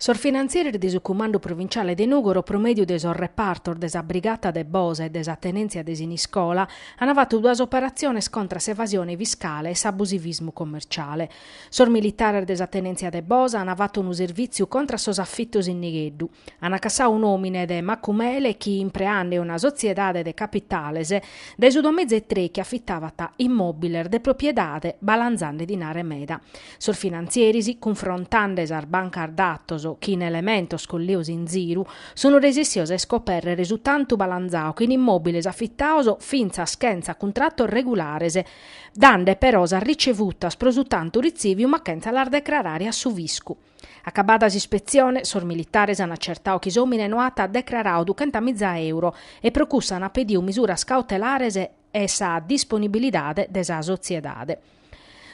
Sos finantzeris de su Cumandu Provinciale de Nùgoro pro mèdiu de sos repartos de sa Brigata de Bosa e de sa Tenèntzia de Siniscola ant fatu duas operatziones contra s'evasione fiscale e s'abusivismu commerciale. Sos militares de sa Tenèntzia de Bosa ant fatu unu servìtziu contra sos afitos in nigheddu. Ana cassau un'omine de Macumele chi impreande una sotziedade de capitales dae su duamiza e tres chi affittavat immobiles de propriedade balanzande dinare meda. Sos finantzieris cunfrontande sas bancas datos chin elementos collios in ziru sun resessios a iscoperrere su tantu balanzau chin immobiles affittaos fintzas chentza cuntratos regulares dande però sas ricevutas pro su tantu retziviu ma chentza las decrarare a su fiscu. Acabbada s'ispetzione, sos militares an acertau chi s'òmine no at decrarau duchenta miza euro e pro cussa an pediu misuras cautelares e sa disponibilidade de sa sotziedade.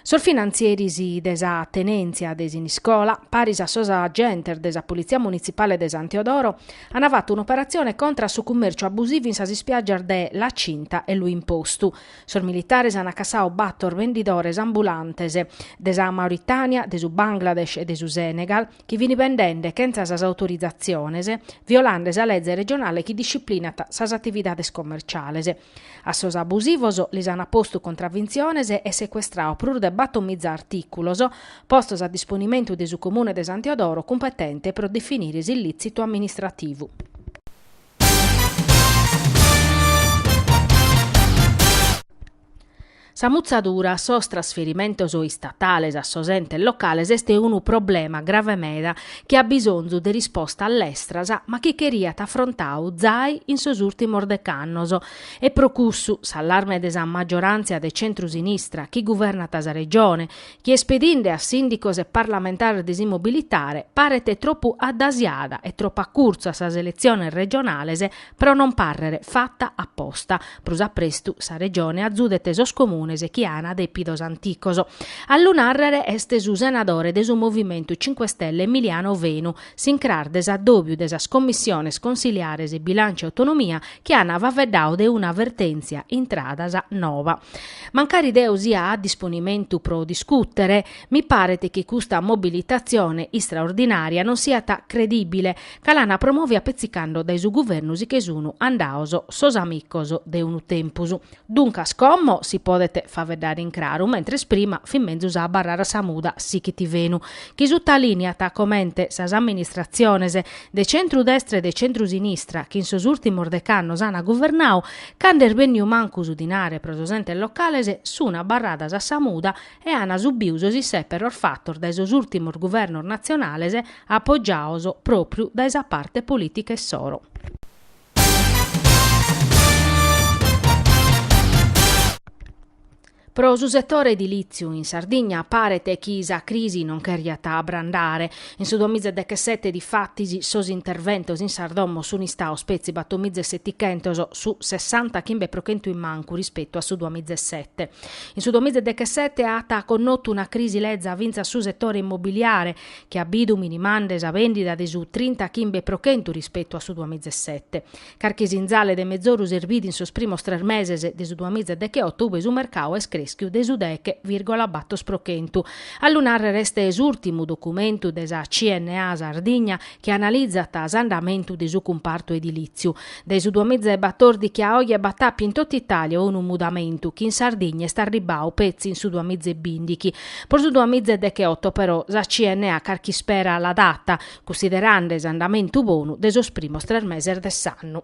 Sos finantzieris de sa tenèntzia de Siniscola, paris a sos agentes de sa Politzia Munitzipale de San Teodoro, an fatu un'operatzione contra a su cummèrciu abusivu in sas ispiàgias de La Cinta e Lu Impostu, Sos militares ant cassau bator bendidores ambulantes de sa Mauritània, de su Bangladesh e de su Senegal chi fin bendende chentza sas autorizatziones, violande sa leze regionale chi disciplinat sas atividades commerciales. A sos abusivos lis ant postu contravintziones e secuestrau prus de bator miza artìculos postos a disponimentu de su Comune de San Teodoro cumpetente pro definire s'illìtzitu amministrativu. Sa mutzadura a sos trasferimentos istatales a sos entes locales est unu problema grave meda chi at bisonzu de rispostas lestras ma chi cheriat afrontau zai in sos ùrtimos decannos e pro cussu s'allarme de sa maggiorantzia de centru-sinistra chi guvernat sa Regione chi est pedinde a sìndicos e parlamentares de si mobilitare, paret tropu addasiada e tropu a curtzu a sas eletziones regionales pro non pàrrere fata a posta. Prus a prestu sa Regione azudet sos comunes chi an dèpidos anticos. A lu nàrrere est su senadore de su Movimentu Cinque Stelle Emiliano Fenu, s'incras de s'addòbiu de sas Commissiones consiliares Bilàncio e Autonomia chi an faveddau de una vertèntzia intradas nova. Mancari deo sia a disponimentu pro discùtere, mi paret chi custa mobilitatzione istraordinària non siat credìbile, ca l'ant promòvia petzi cando dae su guvernu si che sunu andaos sos amicos de unu tempus. Duncas como si podet faveddare in craru, mentres prima fin menzus abarrare a sa muda sichit Fenu, chi sutalìniat comente sas amministratziones de centru-destra e de centru-sinistra chi in sos ùrtimos decannos ant guvernau, cando est benniu mancu su dinare pro sos entes locales, sun abarradas a sa muda e an subiu sos isseperos fatos dae sos urtimos guvernos nazionales apogiados propriu dae sa parte politica issoro. Pro su setore edilìtziu in Sardigna paret chi sa crisi non cheriat abrandare. In su duamiza e dechesete difatis sos interventos in sas domos sunt istados petzi batormiza e setichentos, su sessanta chimbe pro chentu in mancu rispetu a su duamiza e sete. In su duamiza e dechesete at connotu una crisi leza fintzas su setore immobiliare, chi at bidu minimande sa bèndida de su trinta chimbe pro chentu rispetu a su duamiza e sete. Carchi sinzale de mezoru s'est bidu in sos primos tres meses de su duamiza e dechioto ue su mercadu est crèschiu de su deghe virgola bator pro chentu. A lu nàrrere est s'ùrtimu documentu de sa CNA Sardigna chi analizat s'andamentu de su cumpartu edilìtziu. Dae su duamiza e batòrdighi a oe b'at àpiu in totu Itàlia unu mudamentu chi in Sardigna est arribbadu petzi in su duamiza e bìndighi. Pro su duamiza e dechioto però sa CNA carchi ispera la dat, cussiderande s'andamentu bonu de sos primos tres meses de s'annu.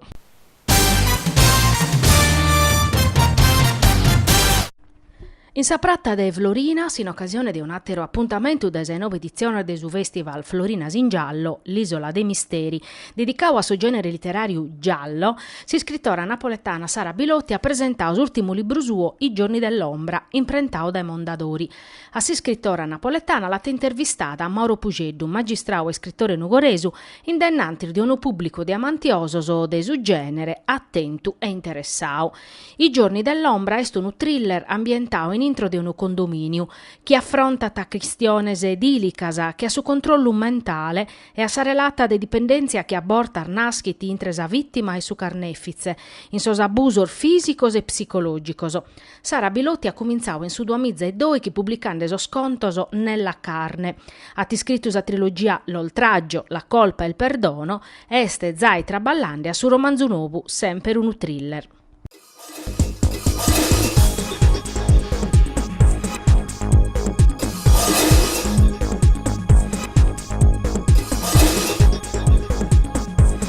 In sa Prata de Florinas, in ocasione de un'àteru apuntamentu de sa 'e nove editziones de su fèstival Florinas in Giallo, L'isola dei misteri, dedicadu a su gènere literàriu giallo, s'iscritora napoletana Sara Bilotti at presentadu s'ùrtimu libru suo I giorni dell'ombra, imprentadu dae Mondadori. A s'iscritora napoletana l'at intervistada Mauro Pusceddu, magistrau e iscritore nugoresu, in dae innantis de unu pùblicu de amantiosos de su gènere atentu e interessau. I giorni dell'ombra est unu thriller ambientau in intro de unu condomìniu, chi afrontat chistiones dìlicas che a su controllu mentale e a sa relata de dipendèntzia chi a bortas naschit intre sa vìtima e su carnèfitze, in sos abusos fìsicos e psicològicos. Sara Bilotti at cumintzadu in su duamiza e doighi publicande sos contos Nella carne. At iscritu sa trilogia L'oltraggio, la colpa e il perdono e est zai traballande a su romanzu nou, semper unu thriller.